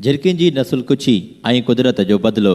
جھرڪين جي نسل ڪڇي ۽ قدرت جو بدلو.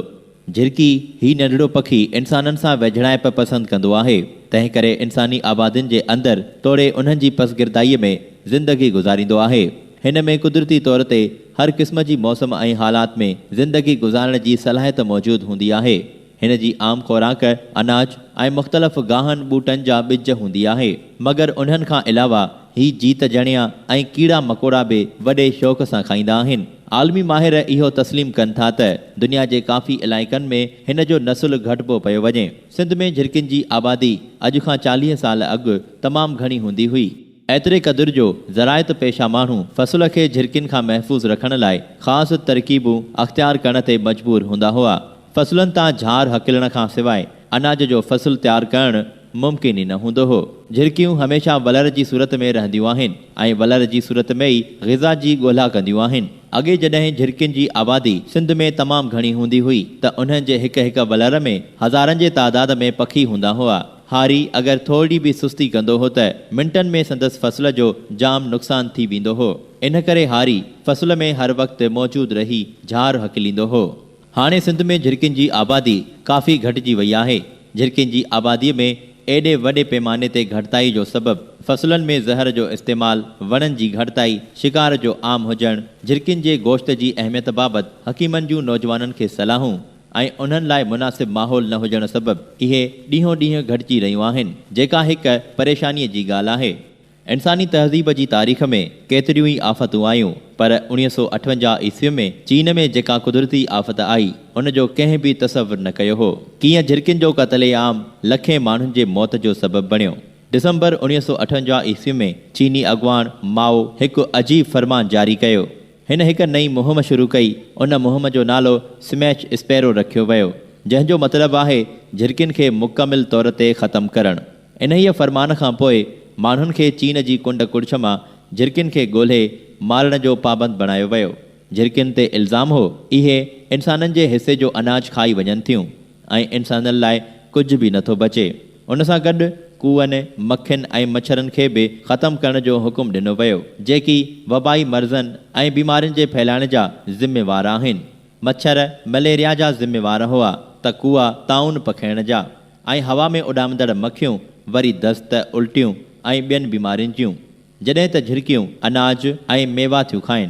جھرڪي، ھي ننڍڙو پکي انسانن سان ويجھڙائپ پسند ڪندو آھي، تنھن ڪري انساني آبادين جي اندر توڙي انھن جي پسگردائيء ۾ زندگي گذاريندو آھي. ھن ۾ قدرتي طور تي ھر قسم جي موسم ۽ حالات ۾ زندگي گذارڻ جي صلاحيت موجود ھوندي آھي. هن جي عام خوراڪ اناج ۽ مختلف گاهن ٻوٽن جا ٻج هوندي آهي. مگر انهن کان علاوه هي جيت جڻيا ۽ ڪيڙا مڪوڙا به وڏي شوق سان کائيندا آهن. عالمي ماهر اهو تسليم ڪن ٿا ته دنيا جي ڪافي علائقن ۾ هن جو نسل گهٽبو پيو وڃي. سنڌ ۾ جهرڪين جي آبادي اڄ کان چاليهه سال اڳ تمام گهڻي هوندي هئي. ايتري قدر جو زراعت پيشه ماڻهو فصل کي جهرڪين کان محفوظ رکڻ لاء خاص ترڪيبون اختيار ڪرڻ تي مجبور هوندا هئا. فصلن تان جھار هڪلڻ کان سواء اناج جو فصل تيار ڪرڻ ممڪن ئي نه هوندو هو. جهرڪيون هميشه ولر جي صورت ۾ رهنديون آهن ۽ ولر جي صورت ۾ ئي غذا جي ڳولها ڪنديون آهن. اڳي جڏهن جهرڪين جي آبادي سنڌ ۾ تمام گھڻي هوندي هئي ته انهن جي هڪ هڪ ولر ۾ هزارن جي تعداد ۾ پکي هوندا هئا. هاري اگر ٿورڙي به سستي ڪندو هو ته منٽن ۾ سندس فصل جو جام نقصان ٿي ويندو هو. ان ڪري هاري فصل ۾ هر وقت موجود رهي جھار هڪليندو هو. هاڻي سنڌ ۾ جھرڪين جي آبادي ڪافي گھٽجي وئي آهي. جھرڪين جي آبادي ۾ ايڏي وڏي پيماني تي گھٽتائي جو سبب فصلن ۾ زهر جو استعمال، وڻن جي گھٽتائي، شڪار جو عام هجڻ، جھرڪين جي گوشت جي اهميت بابت حڪيمن جون نوجوانن کي صلاحون، ۽ انهن لاء مناسب ماحول نه هجڻ سبب اهي ڏينهون ڏينهن گهٽجي رهيون آهن، جيڪا هڪ پريشانيء جي ڳالهه آهي. انساني تهذيب جي تاريخ ۾ ڪيتريون ئي آفتون آيون، پر اڻيهه سؤ اٺونجاهه عيسويء ۾ چين ۾ جيڪا قدرتي آفت آئي، ان جو ڪنهن به تصور نه ڪيو هو. ڪيئن جهرڪين جو قتل عام لکين ماڻهن جي موت جو سبب بڻيو. ڊسمبر اڻيهه سؤ اٺونجاهه عيسوي ۾ چيني اڳواڻ مائو هڪ عجيب فرمان جاري ڪيو. هن هڪ نئين مهم شروع ڪئي، ان مهم جو نالو سميچ اسپيرو رکيو ويو، جنهن جو مطلب آهي جهرڪين کي مڪمل طور تي ختم ڪرڻ. انهيء فرمان کان پوء ماڻهن کي چين جي ڪنڊ ڪڙڇ مان جهرڪين کي ڳولهي مارڻ جو پابند بڻايو ويو. جهرڪين تي الزام هو اهي انسانن جي حصي جو اناج کائي وڃن ٿيون. ۽ انسانن لاء ڪجهه به نٿو بچي. ان سان گڏ ڪوئن، مکين ۽ مڇرن کي به ختم ڪرڻ جو حڪم ڏنو ويو، جيڪي وبائي مرضن ۽ بيمارين جي ڦهلائڻ جا ذميوار آهن. مڇر مليريا جا ذميوار هئا ته ڪوئا طاعون پکيڙڻ جا ۽ هوا ۾ اڏامندڙ مکيون وري دست، الٽيون ۽ ٻين بيمارين جون. جڏهن ته جهرڪيون اناج ۽ ميوا ٿيون کائين.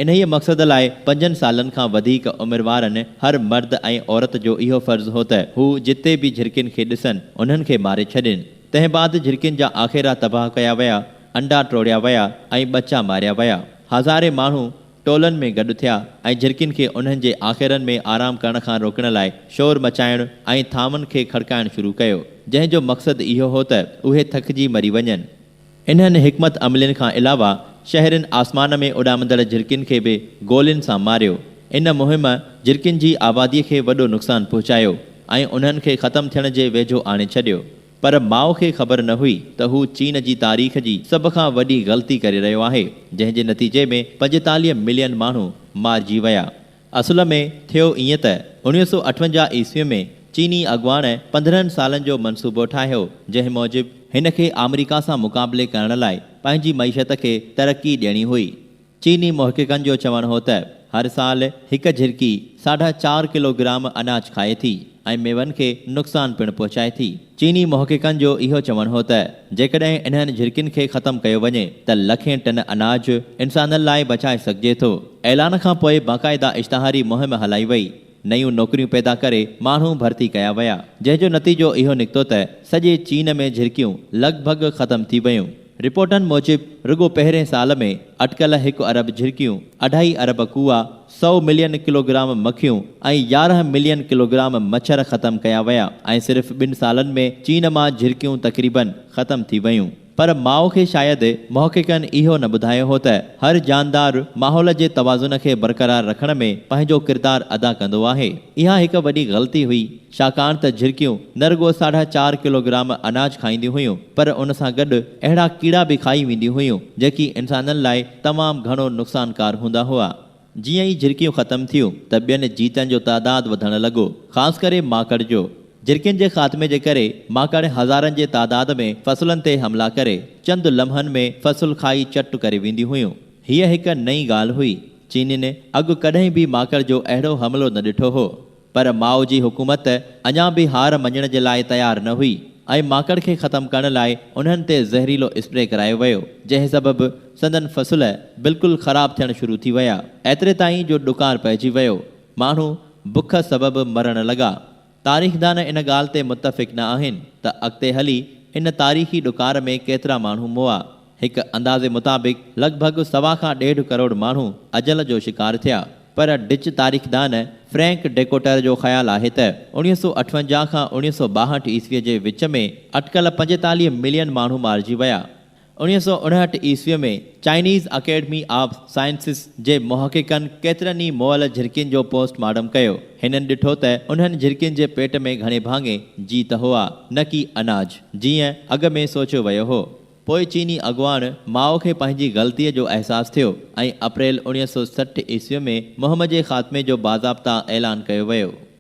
انهيء مقصد لاء پنجن سالن کان وڌيڪ عمر وارن هر مرد ۽ عورت جو اهو فرض هو ته هو جتي به جهرڪين کي ڏسن، انهن کي ماري ڇڏين. تنهن بعد جهرڪين جا آخيرا تباهه ڪيا ويا، انڊا ٽوڙيا ويا ۽ ٻچا ماريا ويا. هزارين ماڻهو ٽولن ۾ گڏ ٿيا ۽ جهرڪين کي انهن جي آخيرن ۾ آرام ڪرڻ کان روڪڻ لاء شور مچائڻ ۽ ٿانون کي کڙڪائڻ شروع ڪيو، جنهن جو مقصد اهو هو ته اهي ٿڪجي مري وڃن. انهن حڪمت عملين کان علاوه شهرين آسمان ۾ اڏامندڙ جهرڪين کي به گولين سان ماريو. ان مهم جهرڪين جي آبادي کي وڏو نقصان پهچايو ۽ انهن کي ختم ٿيڻ جي ويجهو آڻي ڇڏيو. پر ماء کي خبر نه هئي ته هو چين جي تاريخ جي سڀ کان وڏي غلطي ڪري رهيو آهي، جنهن جي نتيجي ۾ پنجيتاليهه ملين ماڻهو مارجي ويا. اصل ۾ ٿيو ائين ته اوڻيهه سؤ اٺونجاهه عيسوي ۾ چيني اڳواڻ پندرهن سالن جو منصوبو ٺاهيو جنهن موجب هن کي آمريڪا سان مقابلي ڪرڻ لاء پنهنجي معيشت کي ترقي ڏيڻي هئي. چيني محققن جو چوڻ هو ته هر سال هڪ جهرڪي ساڍا چار ڪلو گرام اناج کائي ٿي ۽ ميون کي نقصان پڻ پهچائي ٿي. چيني محققن جو اهو چوڻ هو ته جيڪڏهن انهن جهرڪين کي ختم ڪيو وڃي ته لکين ٽن اناج انسانن لاء بچائي سگهجي ٿو. اعلان کان پوء باقاعده اشتهاري مهم هلائي وئي، نيون نوڪريون پيدا ڪري ماڻهو ڀرتي ڪيا ويا، جنهن جو نتيجو اهو نڪتو ته سڄي چين ۾ جهرڪيون لڳ ڀڳ ختم ٿي ويون. رپورٽن موجب رڳو پهرين سال ۾ اٽڪل هڪ ارب جهرڪيون، اڍائي ارب ڪوئا، سؤ ملين ڪلوگرام مکيون ۽ يارهن ملين ڪلوگرام مڇر ختم ڪيا ويا ۽ صرف ٻن سالن ۾ چين مان جهرڪيون تقريباً ختم ٿي ويون. پر مائو کي شايد محققن اهو نه ٻڌايو هو ته هر جاندار ماحول جي توازن کي برقرار رکڻ ۾ پنهنجو ڪردار ادا ڪندو آهي. اها هڪ وڏي غلطي هئي. ڇاڪاڻ ته جهرڪيون نه رڳو ساڍا چار ڪلوگرام اناج کائينديون هيون پر ان سان گڏ اهڙا ڪيڙا به کائي وينديون هيون جيڪي انسانن لاء تمام گهڻو نقصانڪار هوندا هئا. جيئن ئي جهرڪيون ختم ٿيون ته ٻين جيتن جو تعداد وڌڻ لڳو خاص ڪري ماڪڙ جو. جهرڪين جي خاتمي جي ڪري ماڪڙ هزارن جي تعداد ۾ فصلن تي حملا ڪري چند لمحن ۾ فصل کائي چٽ ڪري وينديون هيون. هيء هڪ نئين ڳالهه هئي. چينين اڳ ڪڏهن به ماڪڙ جو اهڙو حملو نه ڏٺو هو. پر ماء جي حڪومت اڃا به هار مڃڻ جي لاء تيار نه هئي ۽ ماڪڙ کي ختم ڪرڻ لاء انهن تي زهريلو اسپري ڪرايو ويو، جنهن سبب سندن فصل بلڪل خراب ٿيڻ شروع ٿي ويا، ايتري تائين جو ڏڪار پئجي ويو، ماڻهو بک سبب مرڻ لڳا. تاريخدان ان ڳالهه تي متفق نه آهن ته اڳتي هلي ان تاريخي ڏڪار ۾ ڪيترا ماڻهو مئا. هڪ اندازي مطابق لڳ ڀڳ سوا کان ڏيڍ ڪروڙ ماڻهو اجل جو شڪار ٿيا پر ڊچ تاريخدان فرينڪ ڊيڪوٽر جو خيال آهي ته اوڻيهه سؤ اٺونجاهه کان اوڻيهه سؤ ٻاهٺ عيسوي جي وچ ۾ اٽڪل پنجيتاليهه ملين ماڻهو مارجي ويا. اوڻيهه سؤ اڻهٺ عيسوي ۾ چائنيز اڪيڊمي آف سائنسز جي محققن ڪيترن ئي مئل جهرڪين جو پوسٽ مارٽم ڪيو. هنن ڏٺو ته انهن جهرڪين جي پيٽ ۾ گهڻي ڀاڱي جيت هئا نه ڪي اناج جيئن اڳ ۾ سوچيو ويو هو. پوء چيني اڳواڻ مائو کي پنهنجي غلطيء جو احساس ٿيو ۽ اپريل اوڻيهه سؤ سٺ عيسويء ۾ مهم جي خاتمي جو باضابطه اعلان ڪيو ويو.